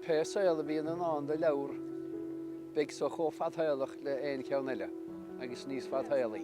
Pé saol a bhíonn i ndán do leabhar, beidh so chomh fadshaolach le haon cheann eile, agus níos fadshaolaí.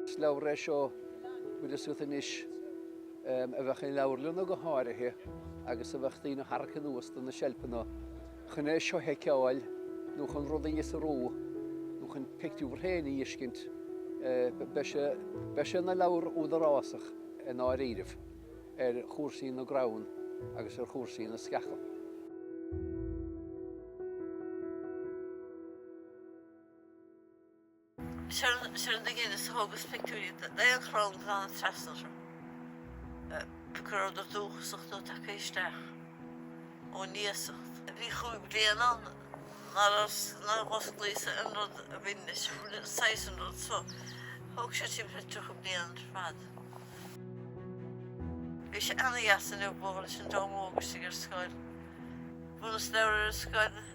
Is leabhar é seo bhfuil fhios agat anois a bheadh i leabharlanna go háirithe agus a bheadh daoine á tharrac anuas de na seilpeanna. Chun é seo a sheiceáil nó chun rud a fhiosrú nó chun pictiúr féin a fheiscint, beidh sé ina leabhar údarásach i ndáiríribh ar chúrsaí na gcrann agus ar chúrsaí na sceacha. Seo na gin is thógas pictiúirí d'aon chrann go dtána trasna orthu. Pé acu rabhadar dúchasach nó tagaithe isteach ón iasacht. Bhí chúig bhliain ann nár osclaíos aon rud a bhain leis saghas an rud so thóg sé timpeall 30 bliain ar fad. Bhí sé ana-dheas inniu bualadh leis an dream óg istigh ar scoil. Bhronnas leabhar ar an scoil.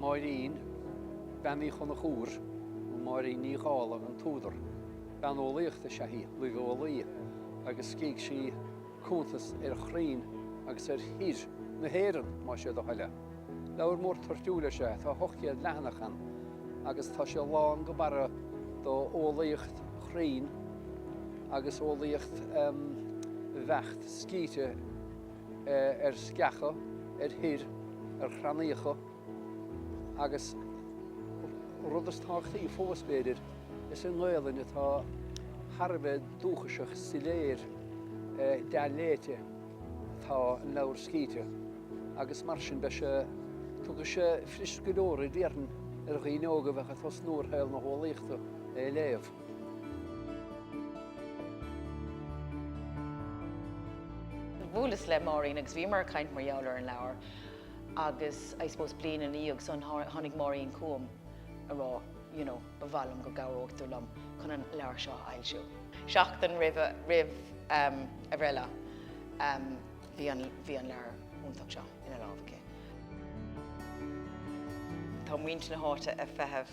Máirín, Bean Uí Chonchúir, nó Máirín Ní Dhálaigh an t-údar. Bean eolaíochta is ea í, luibheolaí, agus scrígh sí cuntas ar chrainn agus ar thoir na hÉireann, más é do thoil é. Leabhar mór toirtiúil is ea é, tá 800 leathanach ann, agus tá sé lán go barra d'eolaíocht chruinn agus eolaíocht bheacht scríte. ar sceacha, ar thoir, ar chrannaíocha agus rud is tábhachtaí fós b'fhéidir, is i nGaelainn atá thar a bheith dúchasach soiléir dea-léite atá an leabhar scríte agus mar sin beidh sé tiocfaidh sé fuirist go leor a déarfainn ar dhaoine óga a bheadh ag tosnú ar shaol na heolaíochta é a léamh. Bhuaileas le Máirín agus bhíomar ag caint mar gheall ar an leabhar agus I suppose bliain ina dhiaidh san tháinig Máirín chugam ag rá you know ba mhaith liom go gcabhródh tú liom chun an leabhar seo a fhoilsiú. Seachtain roimh a bhreithlá bhí an leabhar iontach seo ina lámh aici. Tá muintir na háite ag feitheamh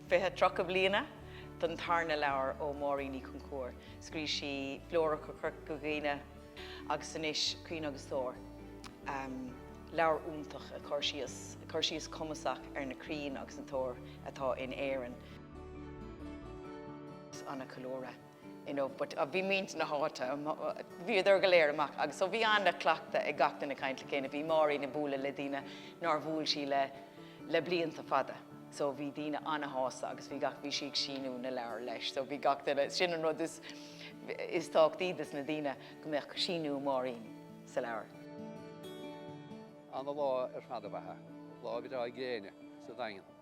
Fiche, Tríocha Bliana don Tarna Leabhar ó Mháirín Uí Chonchúir. Scríobh sí Flóra Chorca Dhuibhne agus anois Crainn agus Toir. Leabhar iontach ag cur síos, ag cur síos cumasach ar na crainn agus na toir atá in Éirinn. Is ana-cheiliúradh. you know, but a bhí muintir na háite bhíodar go léir amach agus so bhí an-chleachtadh ag gach duine caint le chéile. Bhí Máirín ag bualadh le daoine nár bhuail sí le le blianta fada so bhí daoine an-shásta agus bhí gach bhí sí ag síniú na leabhar leis so bhí gach duine sin an rud is is tábhachtaí dos na daoine go mbeadh síniú Máirín sa leabhar. An lá ar feadh a bheatha, lá a bhí tráth ag gréine sa Daingean.